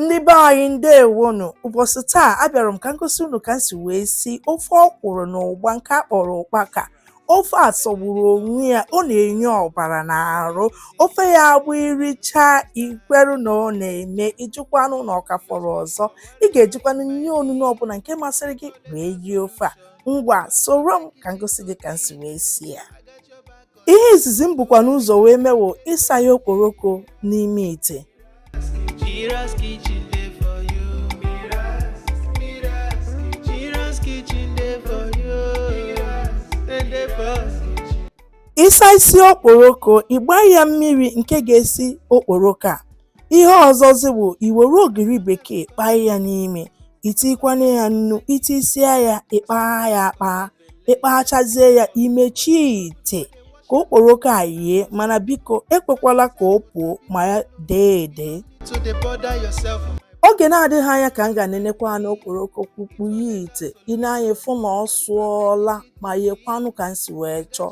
ndị be anyị ndewonu ụbọchị taa abịara m ka m gosi unu ka m si wee si ofe ọkwụrụ na ụgba nke a kpọrọ ụkpaka ofe a sọgburu onwe ya ọ na-enye ọbara n'arụ ofe a bụ iricha ikweru na ọ na-eme ị jụkwanụ na ọ ka fọrọ ọzọ ị ga-ejikwanụ nri onunu ọbụla nke masịrị gị wee rie ofe a ngwa soro m ka m gosi gị ka m si wee si ya ihe izizi m bukwanụ ụzọ wee mee wụ ịsayi okporoko n'ime ite Mira's kitchen dey for you. Mira's, Mira's, Mira's kitchen dey for you. Mira's, dey dey for you. ịsa isi okporoko ịgba ya mmiri nke ga-esi okporoko a ihe ọzọzi bụ iwere ogiri bekee kpaa ya n'ime itikwanụ ya nnu itisia ya ịkpaa ya akpaa ịkpachazie ya imechie ite ka okporoko a yie mana biko ekwekwala ka o puo ma ya dee ede oge na-adịghị anya ka m ga nenekwanụ okporoko kpukpu ya ite ị na-anya fụ na ọ sụọla ma yekwanụ ka m si wee chọọ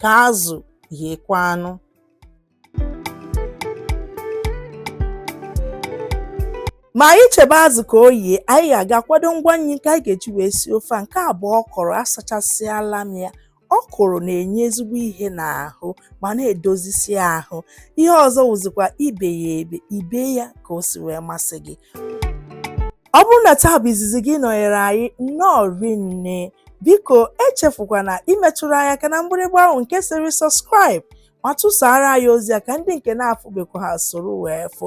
ka azụ yiekwanụ ma anyị chebe azụ ka o yie anyị ga-aga akwado ngwa nri nke anyị ga-eji wee sie ofe a nke a bụ ọkwụrụ asachasịala m ya ọkwụrụ na-enye ezigbo ihe n'ahụ ma na-edozisi ahụ ihe ọzọ wụzikwa ibe ya ebe ibe ya ka o si wee masị gị Ọ bụrụ na taa bụ izizi gị ịnọnyere anyị nnọọ rinne biko echefukwana imetụrụ anyị aka na mgbịrịgba ahụ nke sịrị subscribe ma tụsara anyị ozi a ka ndị nke na-afụbekwaha soro wee fụ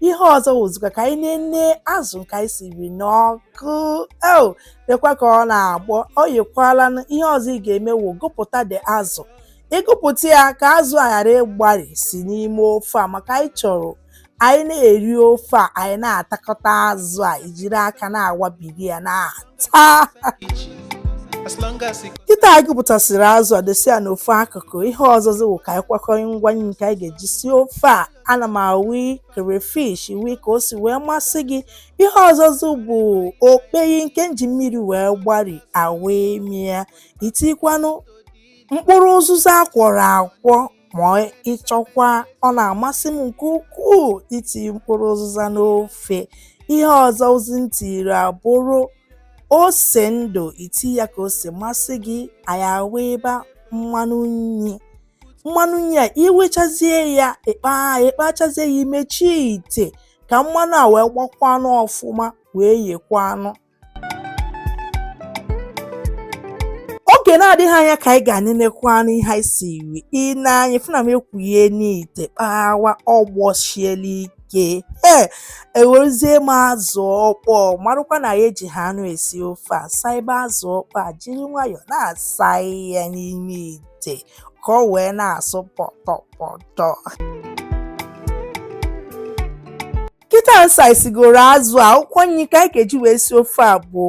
ihe ọzọ wụzikwa ka anyị nene azụ nke anyị siri n'ọkụ eo lekwa ka ọ na-agbọ o yiekwalanụ ihe ọzọ ị ga-eme wụ gụpụta dị azụ ịgụpụta ya ka azụ a ghara ịgbarisi n'ime ofe a maka anyị chọrọ anyị na-eri ofe a anyị na-atakọta azụ a ijiri aka na-awabiri ya na-ata As long as it kịta anyị gụpụtasịrị azụ a dosi ya n'ofu akụkụ ihe ọzọzi wụ ka anyị kwakọrọ ngwa nri nke anyị ga-eji sie ofe a ana m awi crayfish iwi ka o si wee masị gị ihe ọzọzi bụ okpeyi nke m ji mmiri wee gbari awi m ya itikwanụ mkpụrụ ụzụza a kwọrọ akwọ ma ị chọkwa ọ na-amasị m nke ukwuu iti mkpụrụ ụzụza n'ofe ihe ọzọzi m tiri abụrụ ose ndụ iti ya ka o si masị gị anyị awiba mmanụ nri mmanụ nri a iwechazie ya ịkpa ịkpachazie ya imechie ite ka mmanụ a wee gbakwanụ ọfụma wee yekwanụ oge na-adịghị anya ka anyị gaa nenekwanụ ihe anyị siri i ne anya fụ na m ekwughena ite kpawa ọ gbọsiela ike nke ee ewerezie m azụ ọkpọ marụkwa na ya ejiha anụ esi ofe a saibe azụ ọkpọ a jiri nwayọọ na-asa ya n'ime ite ite ka o wee na-asụ pọtọpọtọ kịta m saisigoro azụ a akwụkwọ nri ka anyị ga-eji wee si ofe a bụ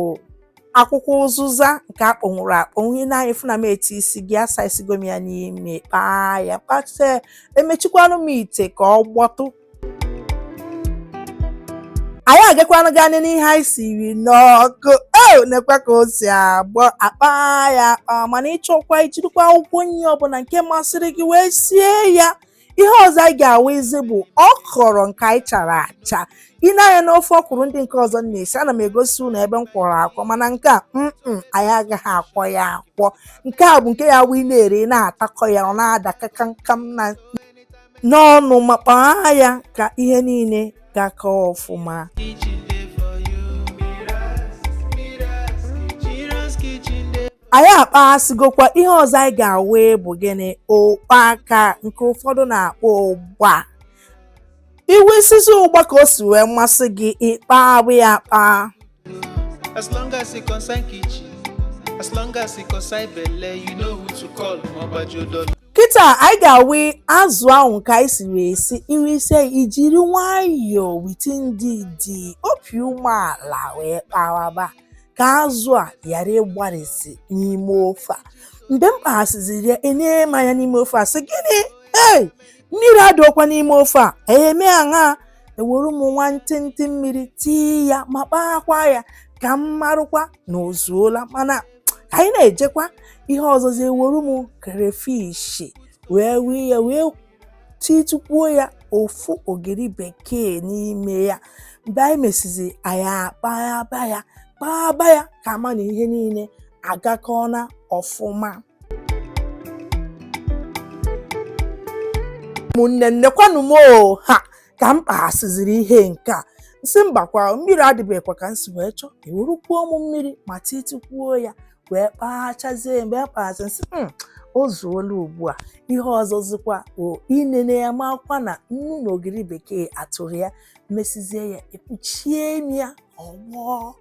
akwụkwọ ụzụza nke akpọnwụrụ akpọnwụ i ne anya fụ na m etiisigo asaisigo m ya n'ime kpaa ya kpachie emechikwanụ m ite ka ọ gbọtụ anyị agakwanụ gaa nene ihe anyị siri n'ọkụ o nekwa ka o si agbọ akpa ya akpa mana ị chọọkwa i jirikwa akwụkwọ nri ọbụla nke masịrị gị wee sie ya ihe ọzọ anyị ga-awụizi bụ ọkọrọ nke anyị chara acha i ne anya n'ofe ọkwụrụ ndị nke ọzọ m na-esi ana m egosi unu ebe m kwọrọ akwọ mana nke a mm anyị agaghị akwọ ya akwọ nke a bụ nke ya wụ ị na-eri ị na-atakọ ya ọ na-ada kakamkam na n'ọnụ ma kpaa ya ka ihe niile gakọọ ọfụma anyị akpaghasịgokwa ihe ọzọ anyị ga-awa bụ gịnị ụkpaka nke ụfọdụ na-akpọ ụgba i weisizi ụgba ka o si wee masị gị ị kpaba ya akpa As long as it concern kitchen, as long as it concern belle, you know who to call, Obajo Dollar. kịta anyị ga-awe azụ ahụ nke anyị siri esi i weisie i jiri nwayọọ with ndidi obi umeala wee kpawaba ka azụ a ghara ịgbarịsị n'ime ofe a mgbe m kpaghasịziri ya enee m anya n'ime ofe a sị gịnị ee mmiri adịọkwa n'ime ofe a eme aṅa ewere m nwa ntịntị mmiri tii ya ma kpaakwa ya ka m marụkwa na o zuola mana ka anyị na-ejekwa ihe ọzọzi ewere m crayfish wee wee ya wee titukwuo ya ofu ogiri bekee n'ime ya mgbe anyị mesizi anyị akpaba ya kpaba ya ka a ma na ihe niile agakọọna ọfụma ụmụnne m nekwanụ m ha ka m kpaghasịziri ihe nke a m sị mbakwa mmiri adịbekwa ka m si wee chọọ ewerukwuo mụ mmiri ma titikwuo ya wee kpachazie mgbe m kpaghasị m sị hmm, o zuola ugbu a ihe ọzọzikwa o inene ya makwa na nnu na ogiri bekee atụrụ ya mesizie ya ekpuchie m ya ọ gbọọ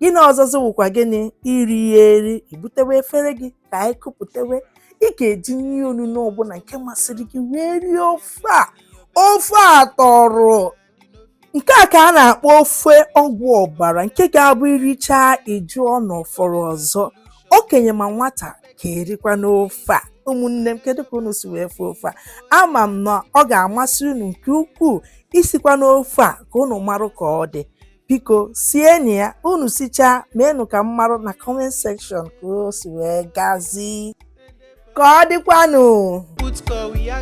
gịnị ọzọzọ wụkwa gịnị iri ya eri ibutewe efere gị ka anyị kupụtewe ị ga-eji ihe onuno ọbụla nke masịrị gị wee rie ofe a ofe a tọrọ nke a ka a na-akpọ ofe ọgwụ ọbara nke ga-abụ i richaa ị jụọ na ọ fọrọ ọzọ okenye ma nwata ga-erikwa n'ofe a ụmụnne m kedu ka unu si wee fee ofe a ama m na ọ ga-amasị unu nke ukwuu sikwanụ ofe a ka unu marụ ka ọ dị biko sienụ ya unu sichaa meenụ ka m marụ na comment section ka o si wee gazi ka ọ dịkwanụ